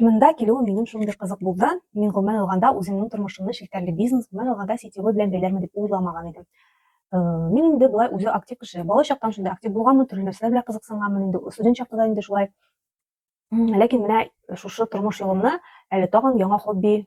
Монда килүем минем шундый кызык булды. Мин гомумән алганда үземнең тормышымны челтәрле бизнес, гомумән алганда сетевой белән бәйләрмен дип уйламаган идем. Э, мин инде болай үзе актив кеше. Бала чактан шундый актив булганмын, төрле нәрсәләр белән кызыксынганмын инде. Студент чакта да инде шулай. Ләкин менә шушы тормыш юлымны әле тагын яңа хобби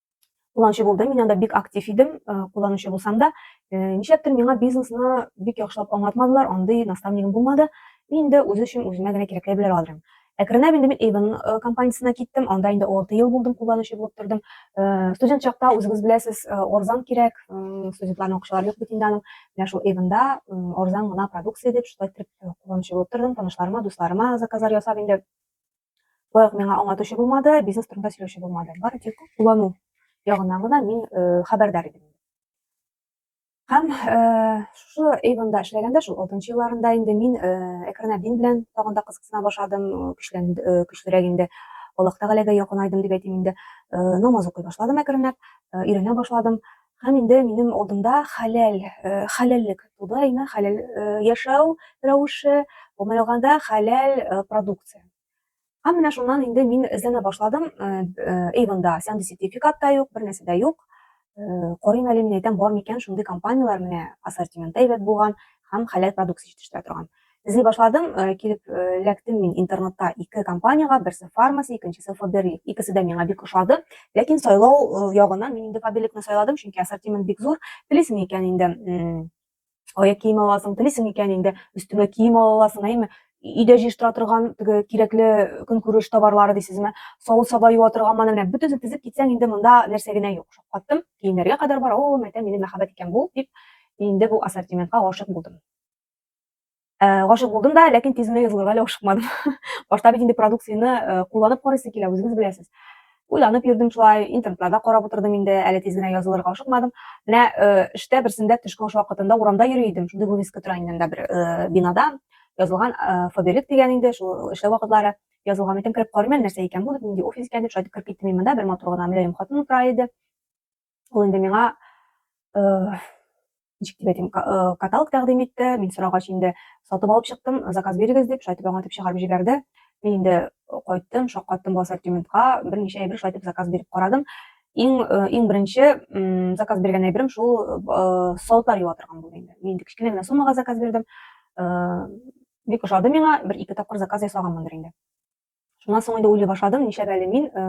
кулланучы булдым. Мин анда бик актив идем, э, кулланучы булсам да, э, нишләптер миңа бизнесны бик яхшылап аңлатмадылар, андый наставнигым булмады. Мин инде үзе өчен үземә генә кирәкле белер алырым. Әкренләп инде мин Avon э, компаниясенә киттем, анда инде 6 ел булдым, кулланучы булып тордым. Студент чакта үзегез беләсез, орзан кирәк, студентларның акчалары юк бит инде аның. Менә шул Avon-да орзан гына продукция дип, шулай итеп кулланучы булып тордым, танышларыма, дусларыма заказлар ясап инде Лайк миңа аңлатучы булмады, бизнес турында сөйләүче булмады. Бары тик куллану ягыннан гына мин э, хәбәрдар идем. Һәм э, шушы Эйвонда эшләгәндә, шул 6 елларында инде мин э, Экранабин белән тагын да кызыксына башладым, көчлән, э, көчлерәк инде. Аллаһ Тәгаләгә якынайдым дип әйтим инде. Э, намаз укый башладым әкренләп, э, өйрәнә башладым. Һәм инде минем алдымда хәләл, хәләллек туды, әйме, хәләл яшәү рәвеше, гомумән алганда, хәләл продукция. Һәм менә шуннан инде мин эзләнә башладым, Avon-да сәнди сертификат та юк, бер нәрсә дә юк. Карыйм әле мин әйтәм, бар микән шундый компанияләр, менә ассортименты әйбәт булган һәм хәләл продукция җитештерә торган. Эзли башладым, э, килеп э, эләктем мин интернетта ике компаниягә, берсе Фармаси, икенчесе Фаберлик. Икесе дә миңа бик ошады. Ләкин сайлау э, ягыннан мин инде Фаберликны сайладым, чөнки ассортимент бик зур. Белесең икән инде аяк кием аласың, телисең икән инде өстеңә кием ала аласың, әйме? Өйдә җыештыра торган теге кирәкле көнкүреш товарлары дисезме? Савыт саба юа торган мана менә бөтенсен тезеп китсәң инде монда нәрсә генә юк. Шаккаттым. Киемнәргә кадәр бар. О, мәтә минем мәхәббәт икән бу дип инде бу ассортиментка гашык булдым. Э, гашык булдым да ләкин тиз генә язылырга әле ашыкмадым башта бит инде продукцияне э, кулланып карыйсы килә үзегез беләсез уйланып йөрдем шулай интернетларда карап утырдым инде әле тиз генә язылырга ашыкмадым менә э, эштә берсендә төшке аш вакытында урамда йөри идем шундый вывеска тора инде анда бер бинада язылган фаберик дигән инде шул эшләү вакытлары язылган икән кереп карыйм әле нәрсә икән бу нинди офис икән дип шулай итеп кереп киттем мин монда бер матур гына мөлаем хатын утыра иде Ул инде миңа ничек дип әйтим, каталог тәкъдим итте. Мин сорагач инде сатып алып чыктым, заказ бирегез дип, шайтып аңа дип чыгарып җибәрде. Мин инде кайттым, шаккаттым бу ассортиментка, берничә әйбер шайтып заказ биреп карадым. Иң иң беренче заказ биргән әйберем шул саутар юа торган булды инде. Мин инде кечкенә генә суммага заказ бирдем. Бик ошады миңа, бер ике тапкыр заказ ясаганмындыр инде. Шуннан соң инде уйлый башладым, нишләп әле мин э,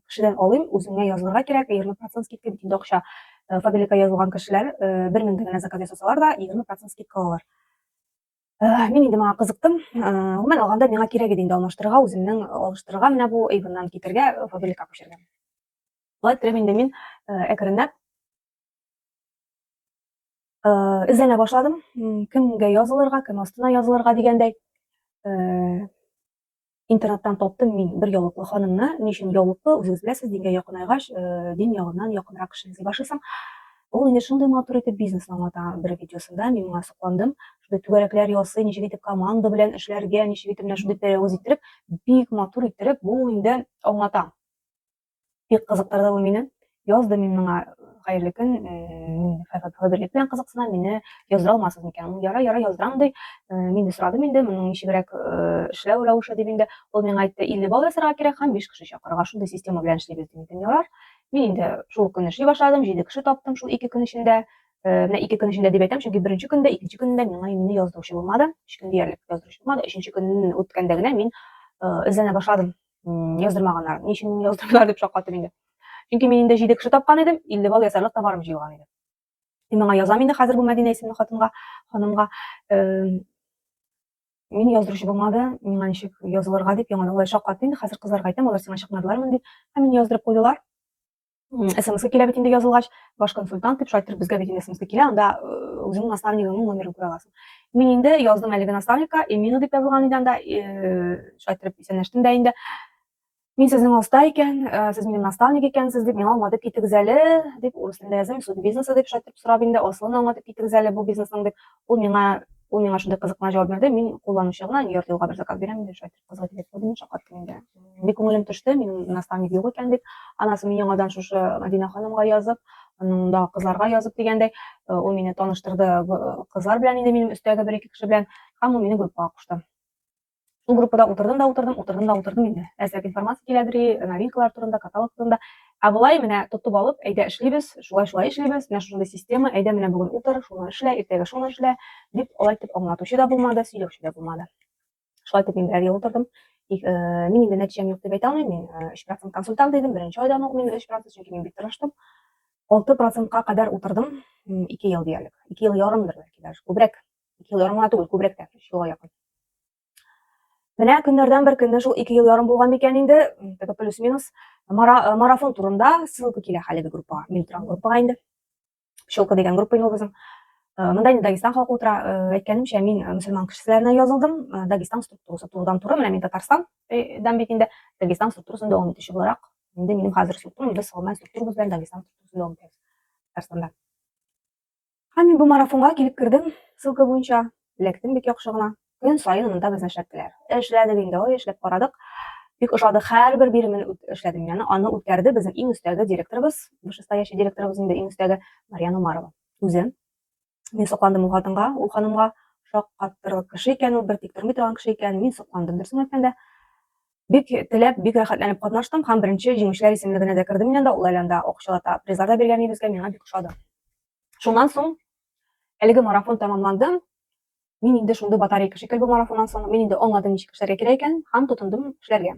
кешедән алыйм, үзеңә язылырга кирәк, 20% скидка бит инде акча. Э, фабрика язылган кешеләр 1000 э, генә заказ ясасалар да, 20% скидка алалар. Мин инде моңа кызыктым. Гомумән алганда миңа кирәк иде инде алмаштырырга, үземнең алыштырырга менә бу Эйвоннан китергә, фабрика күчергә. Шулай иттереп инде мин әкренләп эзләнә башладым кемгә язылырга кем астына язылырга дигәндәй интернеттан таптым мин бер яулыклы ханымны ни өчен яулыклы үзегез беләсез дингә якынайгач дин ягыннан якынрак кеше эзли башлыйсың ул инде шундый матур итеп бизнес аңлата бер видеосында мин моңа сокландым шундый түгәрәкләр ясый ничек итеп команда белән эшләргә ничек итеп менә шундый пәрәвез иттереп бик матур иттереп бу инде аңлата Бик кызыктырды ул мине. Язды мин моңа хәерле көн, мин хәзерлек белән кызыксынам, мине яздыра алмасыз микән? Ул яра, яра яздырам ди. Мин дә сорадым инде, моның ничегрәк эшләү рәвеше дип инде. Ул миңа әйтте, 50 балл ясарга кирәк һәм 5 кеше чакырырга, шундый система белән эшлибез ди. Мин ярар. Мин инде шул көн эшли башладым, 7 кеше таптым шул 2 көн эчендә. Менә 2 көн эчендә дип әйтәм, чөнки беренче көндә, икенче көндә миңа мине яздыручы булмады. Өч көн диярлек яздыручы булмады. Өченче көн үткәндә генә мин эзләнә башладым. яздырмаганнар. Ни өчен яздырдылар дип шаккаттым инде. Чөнки мин инде 7 кеше тапкан идем, 50 балл ясарлык товарым җыелган иде. Мин моңа язам инде хәзер бу Мәдинә исемле хатынга, ханымга. Мин яздыручы булмады, миңа ничек язылырга дип яңадан алай шаккатты инде. Хәзер кызларга әйтәм, алар сиңа чыкмадылармы дип. Һәм мине яздырып куйдылар. смс килә бит инде язылгач ваш консультант дип шайтыр безгә бит инде смс килә анда үзеңнең наставнигыңның номерын күрә аласың мин инде яздым әлеге наставникка эмина дип язылган иде анда шайтырып исәнләштем дә инде мин сезнең оста икән сез минем наставник икәнсез дип миңа аңлатып китегез әле дип урыс телендә язам суд бизнесы дип шайтырып сорап инде асылын аңлатып китегез әле бу бизнесның дип ул миңа ул миңа шундый кызык кына җавап бирде мин кулланучы гына нью йорк юлга бер заказ бирәм дип шайтыр кызга кирәк булды мин шаккаттым инде бик күңелем төште минем наставник юк икән дип анасы мин яңадан шушы мәдинә ханымга язып да кызларга язып дигәндәй э, ул мине таныштырды кызлар белән инде минем өстәге бер ике кеше белән һәм ул мине группага кушты шул группада утырдым да утырдым утырдым да утырдым инде әзрәк информация киләдери новинкалар турында каталог турында ә болай менә тотып алып әйдә эшлибез шулай шулай эшлибез менә шушындый система әйдә менә бүген утыр шуны эшлә иртәгә шуны эшлә дип алай итеп аңлатучы да булмады сөйләүче дә булмады Шулай итеп мин бер ел утырдым. Э, мин инде нәтиҗәм юк дип әйтә алмыйм. Мин 3% э, консультант идем, беренче айдан ук мин 3%, чөнки мин бик тырыштым. 6%-ка кадәр утырдым, 2 ел диярлек. 2 ел ярымдыр бәлки даже, күбрәк. 2 ел ярым гына түгел, күбрәк тә, 3 елга якын. Менә көннәрдән бер көнне шул 2 ел ярым булган микән инде, теге плюс-минус э, марафон турында ссылка килә хәлеге группага. Мин торам группага инде. Пчелка дигән группа инде ул безнең. Э, Монда инде Дагестан халкы утыра. Э, әйткәнемчә, мин э, мөселман кешеләренә язылдым. Дагестан структурасы турыдан туры, менә мин Татарстандан бит инде Дагестан структурасын дәвам итүче буларак, инде минем хәзер структурам, без салман структурабыз белән Дагестан структурасын дәвам итәбез Татарстанда. Һәм мин бу марафонга килеп кердем, ссылка буенча эләктем бик яхшы гына. Көн саен монда безне эшләттеләр. Эшләдек инде, ой, эшләп карадык. Бик ошады, һәрбер биремен эшләдем. Яны аны үткәрде безнең иң өстәге директорыбыз, вышестоящий директорыбыз инде иң өстәге Марьяна Умарова. Үзе. Мин сокландым ул хатынга, ул ханымга шаккаттырырлык кеше икән, ул бер тик тормый торган кеше икән. Мин сокландым, дөресен әйткәндә. Бик теләп, бик рәхәтләнеп катнаштым һәм беренче җиңүчеләр исемлегенә дә кердем мин анда, ул әле анда акчалата призлар да биргән безгә, миңа бик ошады. Шуннан соң әлеге марафон тәмамланды. Мин инде шундый батарейка шикелле бу марафоннан соң, мин инде аңладым ничек эшләргә кирәк икән һәм тотындым эшләргә.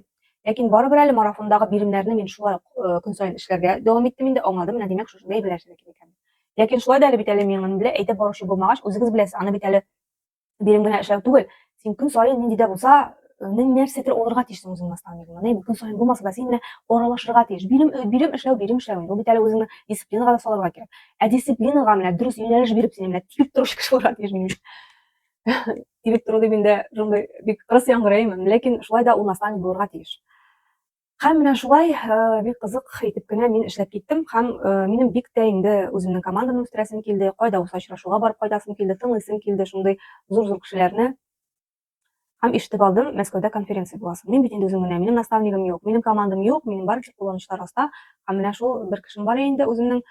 Ләкин барыбер әле марафондагы биремнәрне мин шулай ук э, көн саен эшләргә дәвам иттем инде, аңладым, менә димәк шушындый әйберләр эшләргә кирәк икән. Ләкин шулай да әле бит әле миңа белә әйтеп баручы булмагач, үзегез беләсез, аны бит әле бирем генә эшләү түгел. Син көн саен нинди дә булса нен нәрсәдер алырга тиешсең үзең наставнигыңа не көн саен булмаса да син менә аралашырга тиеш бирем бирем эшләү бирем эшләү бу бит әле үзеңне дисциплинага да салырга кирәк ә дисциплинага менә дөрес юнәлеш биреп сине менә тибеп торучы кеше булырга тиеш минем тибеп тору дип инде шундый бик кырыс яңгыраймын ләкин шулай да ул наставник булырга тиеш һәм менә шулай бик кызык итеп кенә мин эшләп киттем һәм минем бик тә инде үземнең командамны үстерәсем килде кайда булса очрашуга барып кайтасым килде тыңлыйсым килде шундый зур зур кешеләрне Һәм ишетеп алдым, Мәскәүдә конференция буласы. Мин бит инде үзем генә, минем наставнигым юк, минем командам юк, минем барча кулланышлар аста. Һәм менә шул бер кешем бар инде үземнең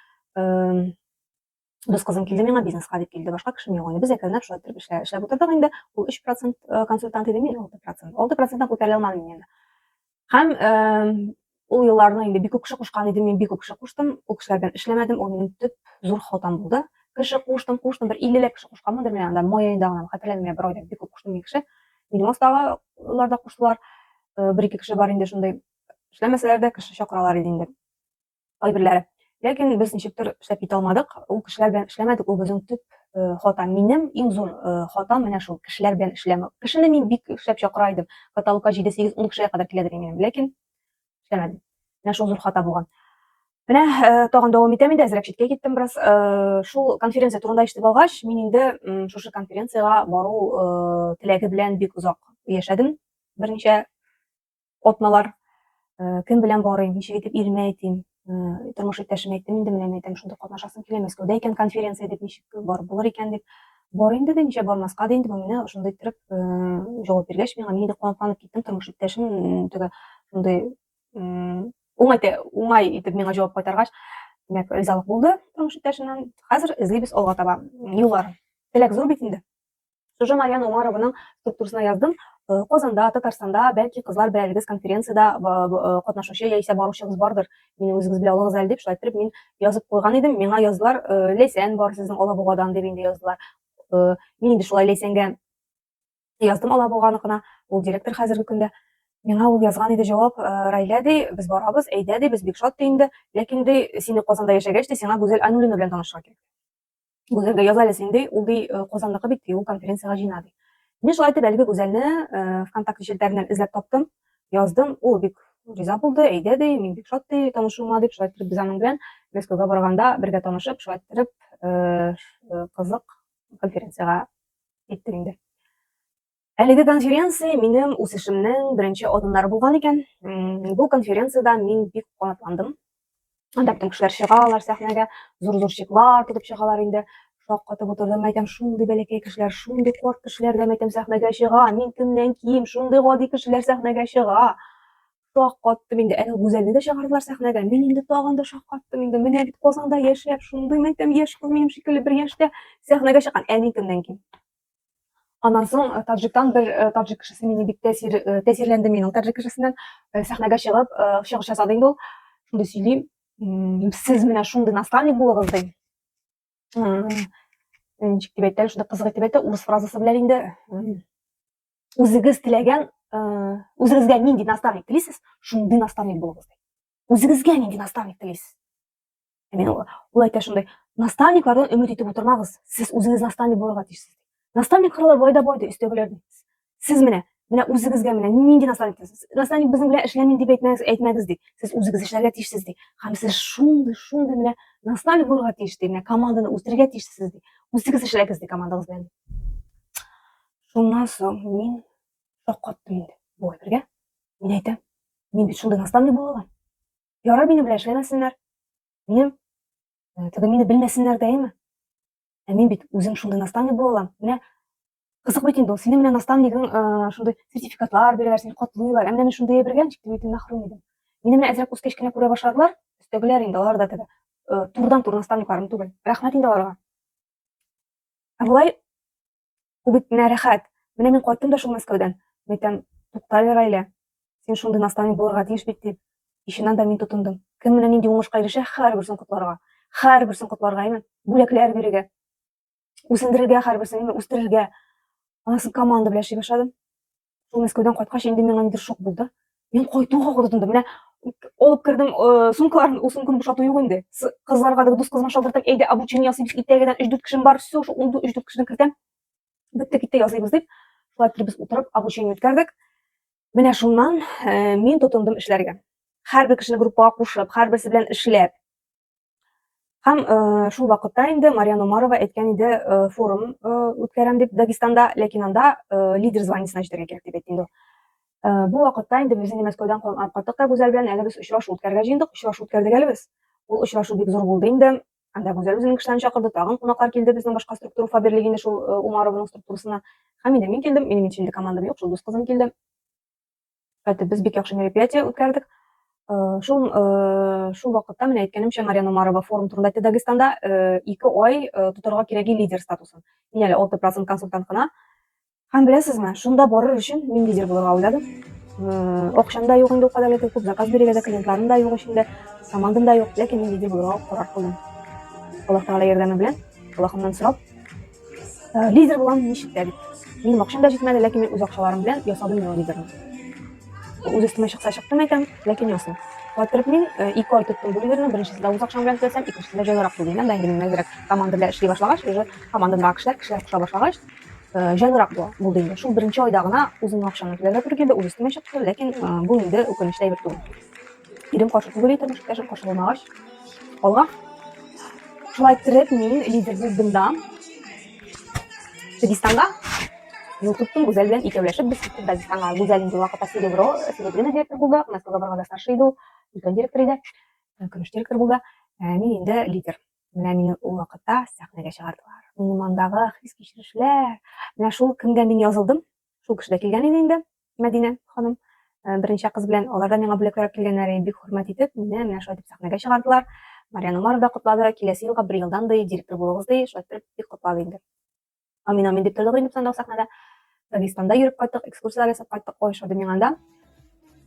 дус кызым килде миңа бизнеска дип килде, башка кешем юк инде. Без әкренләп шулай итеп эшләп, эшләп утырдык инде. Ул 3% консультант иде, мин 6%. 6%-тан күтәрә алмадым мин инде. Һәм э, ул елларны инде бик күп кеше кушкан иде, мин бик күп кеше куштым. Ул кешеләр белән эшләмәдем, ул минем төп зур халтам булды. Кеше куштым, куштым, бер 50 ләп кеше кушканмындыр мин анда, май аенда гына, хәтерләмим, я берәүдә бик күп куштым мин кеше. Минем астагылар да куштылар. Э, бер ике кеше бар инде шундый. Эшләмәсәләр дә кеше чакыралар иде инде. кайберләре. Ләкин без ничектер эшләп китә алмадык. Ул кешеләр белән эшләмәдек, ул безнең төп э, хата. Минем иң зур э, хатам менә шул, кешеләр белән эшләмәү. Кешене мин бик эшләп чакыра идем. Каталогка 7, 8, 10 кешегә кадәр киләдер минем, ләкин эшләмәдем. Менә шул зур хата булган. Менә э, тагын дәвам итәм инде, әзрәк читкә киттем бераз. Шул конференция турында ишетеп алгач, мин инде шушы конференциягә бару теләге белән бик озак яшәдем. Берничә атналар э, кем белән барыйм, ничек итеп иремә әйтим, э, тормыш иптәшемә әйттем инде менә әйтәм, шунда катнашасым килә, Мәскәүдә икән конференция дип ничек барып булыр икән дип. Бар инде дә ничә бармаска да инде бу менә шундый иттереп э, җавап биргәч, миңа мин дә куаныкланып киттем, тормыш иптәшем теге шундый уңай уңай итеп миңа җавап кайтаргач, димәк, ризалык булды тормыш иптәшеннән. Хәзер эзлибез алга таба юллар. Теләк зур бит инде. Сюжет Марьяна Умарованың структурасына яздым. Э, Казанда, Татарстанда, бәлки кызлар бәрәлегез конференцияда э, э, катнашучы яисә баручыгыз бардыр. Мине үзегез белә алыгыз әле дип шулай итеп мин язып куйган идем. Миңа язлар Ләйсән бар сезнең Алабугадан дип инде яздылар. Мин инде шулай Ләйсәнгә яздым Алабуганыкына. Ул директор хәзерге көндә. Миңа ул язган иде җавап, Райлә ди, без барабыз, әйдә ди, без бик шат ди инде. Ләкин ди, сине Казанда яшәгәч ди, сиңа Гүзәл Айнуллина белән танышырга кирәк. Гүзәл дә яза әле син, ди. Ул, ди, э, Казандагы бит, ди, ул конференциягә җыйна, ди. Мин шулай итеп әлеге Гүзәлне э, ВКонтакте челтәреннән эзләп таптым, яздым. Ул бик риза булды, әйдә, ди, мин бик шат, ди, танышуыма, дип, шулай итеп без аның белән Мәскәүгә барганда бергә танышып, шулай итеп э, ш- э, кызык конференциягә киттек инде. Әлеге конференция минем үсешемнең беренче адымнары булган икән. Бу конференциядә мин бик канатландым. Анда бөтен кешеләр чыгалар сәхнәгә, зур-зур чеклар тотып чыгалар инде. Шаккатып утырдым, әйтәм, шундый бәләкәй кешеләр, шундый карт кешеләр дә мәйтәм сәхнәгә чыга. Мин кемнән ким, шундый гади кешеләр сәхнәгә чыга. Шаккаттым инде, әле Гүзәлне дә чыгардылар сәхнәгә. Мин инде тагын да шаккаттым инде. Менә бит Казанда яшәп, шундый мәйтәм яшь кыз минем шикелле бер яшьтә сәхнәгә чыккан. Ә мин кемнән ким? Аннан соң таджиктан бер таджик кешесе мине бик тәсир тәсирләнде минем таджик кешесеннән сәхнәгә чыгып чыгыш ясады инде ул. Шундый сөйли, сез менә шундый наставник булыгыз ди. Ничек дип әйтте, шундый кызык итеп әйтте, урыс фразасы белән инде үзегез теләгән үзегезгә нинди наставник телисез, шундый наставник булыгыз ди. Үзегезгә нинди наставник телисез? Мен ул әйтә шундай, наставниклардан өмет итеп утырмагыз, сез үзегез наставник булырга тиешсез. Наставник хырлы байда бойды өстәгеләрдә. Сез менә, менә үзегезгә менә нинди наставник сез? Наставник безнең белән эшләмин дип әйтмәгез, әйтмәгез ди. Сез үзегез эшләргә тиешсез ди. Һәм сез шундый, шундый менә наставник булырга тиеш ди, менә команданы үстерергә тиешсез ди. Үзегез эшләгез ди командагыз белән. Шуннан соң мин шаккаттым инде. Бу әйбергә. Мин әйтәм, мин бит шундый наставник була алам. Ярар, минем белән эшләмәсеннәр. Минем э, түгел, мине белмәсеннәр дәйме? Ә мин бит үзем шундый наставник була алам. Менә кызык бит инде ул. Синең менә наставнигың э, шундый сертификатлар бирәләр, сине котлыйлар. Ә менә мин шундый әйбергә ничек тә мин мәхрүм идем. Мине менә әзрәк үскәч кенә күрә башладылар. Өстәгеләр инде алар да теге э, турыдан-тур наставникларым түгел. Рәхмәт инде аларга. Ә болай Ул бит менә рәхәт. Менә мин кайттым да шул Мәскәүдән. Мәйтәм, туктале, Райлә. Син шундый наставник булырга тиеш бит, дип, ишен анда мин тотындым. Кем менә нинди уңышка ирешә, һәрберсен котларга. Һәрберсен котларга, әйме? Бүләкләр бирергә. Үсендерергә һәрберсен, әйме? Үстерергә. Анасын команда белән эшли башладым. Шул Мәскәүдән кайткач инде миңа нидер шок булды. Мин кайтуга куркындым. Менә алып кердем э, сумкаларын, ул сумканы бушату юк инде. Кызларга да дус кызына шалтыртып, әйдә обучение ясыйбыз, итәгедән 3-4 кешем бар, все, шул 3-4 кешене кертәм. Бетте китте ясыйбыз дип, шулай килеп без утырып обучение үткәрдек. Менә шуннан э, мин тотындым эшләргә. Һәрбер кешене группага кушып, һәрберсе белән эшләп, Һәм э, шул вакытта инде Мариан Умарова әйткән иде э, форум э, үткәрәм дип Дагестанда, ләкин анда лидер званиесенә җитәргә кирәк дип әйтте инде. Бу вакытта инде без инде Мәскәүдән калган кайттык та Гүзәл белән әле без очрашу үткәрергә җыендык, очрашу үткәрдек әле без. Ул очрашу бик зур булды инде. Анда Гүзәл үзенең кешеләрен чакырды, тагын кунаклар килде безнең башка структура фаберлиге инде шул Умарованың структурасына. Һәм инде мин килдем, минем инде командам юк, шул дус кызым килде. Хәтта без бик яхшы мероприятие үткәрдек. Э, шул э, шул вакытта менә әйткәнемчә Мария Номарова форум турында әйтте Дагестанда э, ике ай тотарга кирәги лидер статусын. Мин әле 6% консультант кына. Һәм беләсезме, шунда барыр өчен мин лидер булырга уйладым. Акчам да юк инде ул кадәр күп заказ бирергә дә клиентларым да юк эчендә, командам да юк, ләкин мин лидер булырга карар кылдым. Аллаһ Тәгалә ярдәме белән, Аллаһымнан сорап, Э, лидер булам ничек тә бит. Минем акчам да җитмәде, ләкин мин үз акчаларым белән ясадым мин лидерны. Үз өстемә чыкса чыктым әйтәм, ләкин ясым. Катырып мин э, ике ай тоттым бу лидерны, беренчесе дә үз акчам белән төзәсәм, икенчесе дә җайлырак түгел. Анда инде мин әзрәк команда белән эшли башлагач, уже командамдагы кешеләр, кешеләр куша башлагач, э, җайлырак була булды инде. Шул беренче айда гына үземнең акчамны түләргә туры килде, үз өстемә чыкты, ләкин бу инде үкенечле әйбер түгел. Ирем каршы түгел итеп мөшкәшем каршы булмагач, алга. Шулай иттереп мин лидер булдым да. Дагестанга Ютубтың Гүзәл белән икәүләшеп без киттек Дагестанга. Гүзәл инде вакытта Серебро, Серебрина директор булды, Настя Габарга да старший иде ул, өлкән директор иде, э, көмеш директор булды. Э, мин инде лидер. Менә мине ул вакытта сәхнәгә чыгардылар. Минем андагы хис-кичерешләр, менә шул кемгә мин язылдым, Шул кеше дә килгән иде инде, Мәдинә ханым. Э, берничә кыз белән алар да миңа бүләк ясап килгәннәр иде. Бик хөрмәт итеп, мине менә шулай дип сәхнәгә чыгардылар. Марьян Умаров да котлады. Киләсе елга бер елдан ди, директор булыгыз ди, шулай итеп бик котлады инде. Амин, амин дип тордык инде без анда сәхнәдә. Дагестанда йөреп кайттык, экскурсияләр ясап кайттык, ой, шуды миңа да.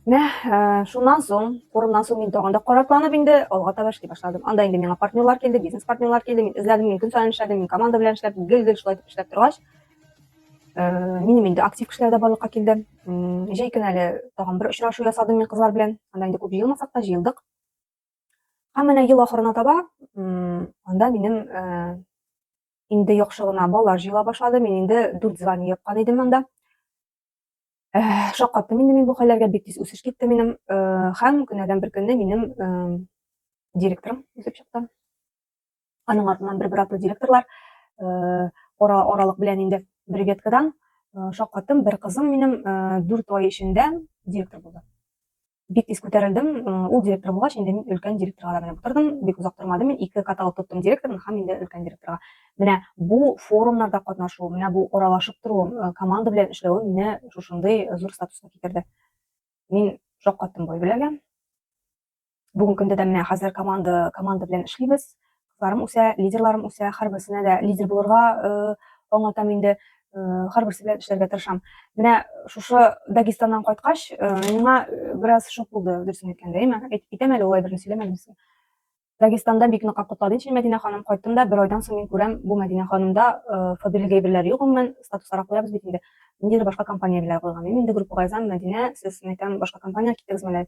Менә э, шуннан соң, форумнан соң мин тагын да каракланып инде алга таба эшли башладым. Анда инде миңа партнерлар килде, бизнес партнерлар килде, мин эзләдем, мин көн саен эшләдем, мин команда белән эшләп, гел-гел шулай итеп эшләп торгач, минем инде актив кешеләр дә барлыкка килде җәй көн әле тагын бер очрашу ясадым мин кызлар белән анда инде күп җыелмасак та җыелдык һәм менә ел ахырына таба анда минем инде яхшы гына балалар җыела башлады мин инде дүрт звание япкан идем анда шаккаттым инде мин бу хәлләргә бик тиз үсеш китте минем һәм көннәрдән бер көнне минем директорым үсеп чыкты Аның артыннан бер бер директорлар э, ара аралык белән инде бер веткадан э, шаккаттым. Бер кызым минем э, дүрт ай эчендә директор булды. Бик тиз күтәрелдем. Ул директор булгач, инде мин өлкән директорга да менеп утырдым. Бик озак тормады мин ике каталог тоттым директорны һәм инде өлкән директорга. Менә бу форумнарда катнашу, менә бу аралашып тору, команда белән эшләве мине шушындый зур статуска китерде. Мин шаккаттым бу беләгә. Бүгенге көндә дә менә хәзер команда команда белән эшлибез. Кызларым үсә, лидерларым үсә, һәрберсенә дә лидер булырга э, аңлатам инде. Э, һәрберсе белән эшләргә тырышам. Менә шушы Дагестаннан кайткач, э, миңа бераз шок булды, дөресен әйткәндә. Әйме, әйтәм әле улай берни сөйләмәдем безгә. Дагестанда бик нык котлады ичен Мәдинә ханым. Кайттым да, бер айдан соң мин күрәм, бу Мәдинә ханымда фабрик әйберләре юк гомумән, статус арак куябыз бит инде. Ниндидер башка компания белән куйган. Мин инде группага язам, Мәдинә, сез, мәйтәм, башка компания киттегез мәле.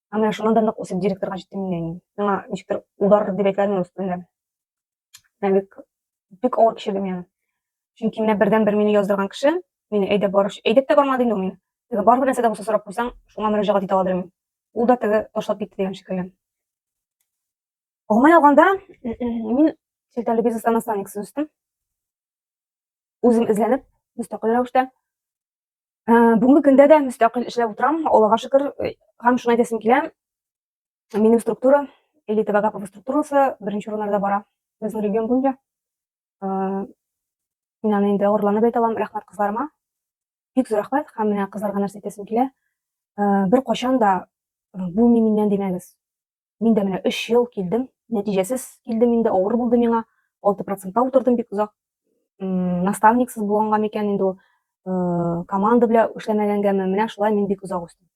Һәм менә шуннан да нык үсеп директорга җиттем инде әни. Миңа ничектер удар дип әйтәләр инде өстендә. Менә бик бик авыр кичердем яны. Чөнки менә бердәнбер мине яздырган кеше, мине әйдәп барып, әйдәп тә бармады инде ул мине. Теге барыбер нәрсә дә булса сорап куйсаң, шуңа мөрәҗәгать итә аладыр мин. Ул да теге ташлап китте дигән шикелле. Гомумән алганда, мин челтәрле бизнеста наставниксыз үстем. Үзем эзләнеп, мөстәкыйль рәвештә Ә, бүгенге көндә дә мөстәкыйль эшләп утырам, Аллага шөкер, һәм шуны әйтәсем килә, минем структура, элита Вагапова структурасы беренче урыннарда бара безнең регион буенча. Ә, мин аны инде горурланып әйтә алам, рәхмәт кызларыма. Бик зур рәхмәт һәм менә кызларга нәрсә әйтәсем килә. Ә, бер качан да бу мин миннән димәгез. Мин дә менә 3 ел килдем, нәтиҗәсез килдем инде, авыр булды миңа. 6 процентта утырдым бик озак. Наставниксыз булганга микән инде ул, э, команда белән эшләмәгәнгәме, менә шулай мин бик озак үстем.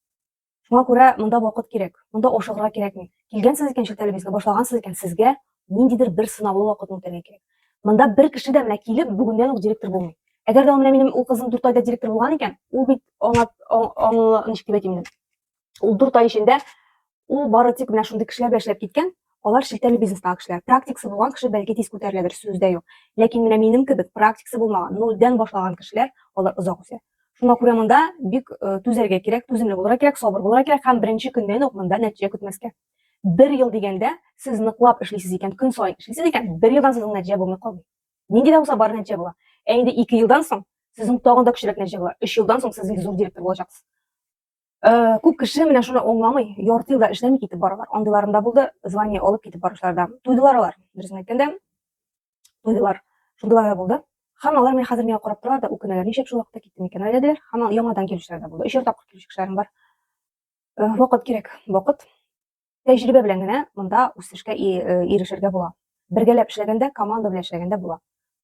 Шуңа күрә монда вакыт кирәк, монда ашыгырга кирәкми. Килгәнсез икән Чүтәлебезгә, башлагансыз икән, сезгә ниндидер бер сынаулы вакытны үтәргә кирәк. Монда бер кеше дә менә килеп, бүгеннән үк директор булмый. Әгәр дә ул менә минем ул кызым дүрт айда директор булган икән, ул бит аңа, аңа, ничек дип әйтим ул дүрт ай эчендә ул бары тик менә шундый кешеләр белән эшләп киткән алар шелтәле бизнестагы кешеләр практикасы булган кеше бәлки тиз күтәреләдер сүз дә юк ләкин менә минем кебек практикасы булмаган нольдән башлаган кешеләр алар озак үсә шуңа күрә монда бик э, түзәргә кирәк түземле булырга кирәк сабыр булырга кирәк һәм беренче көннән үк монда нәтиҗә көтмәскә бер ел дигәндә сез ныклап эшлисез икән көн саен эшлисез икән бер елдан сезнең нәтиҗә булмый калмый нинди дә булса бар нәтиҗә була ә инде ике елдан соң сезнең тагын да көчлерәк нәтиҗә була өч елдан соң сез зур директор булачаксыз Э, күп кеше менә шуны аңламый, ярты елда эшләми китеп баралар. Андыйларым да булды, звание алып китеп баручылар да. Туйдылар алар, дөресен әйткәндә, туйдылар. Шундыйлар да булды. Һәм алар менә хәзер миңа карап торалар да үкенәләр, ничек шул вакытта киттем икән әле диләр. Һәм яңадан килүчеләр дә булды. Өчәр тапкыр килүче кешеләрем бар. Э, вакыт кирәк, вакыт. Тәҗрибә белән генә монда үсешкә э, ирешергә була. Бергәләп эшләгәндә, команда белән эшләгәндә була.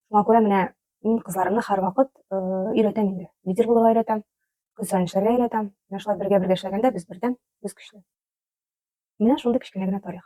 Шуңа күрә менә мин кызларымны һәрвакыт э, өйрәтәм инде. Лидер булырга өйрәтәм, көн саен эшләргә өйрәтәм. Менә шулай бергә бергә эшләгәндә без бердәм, без көчле. Менә шундый кечкенә генә тарих.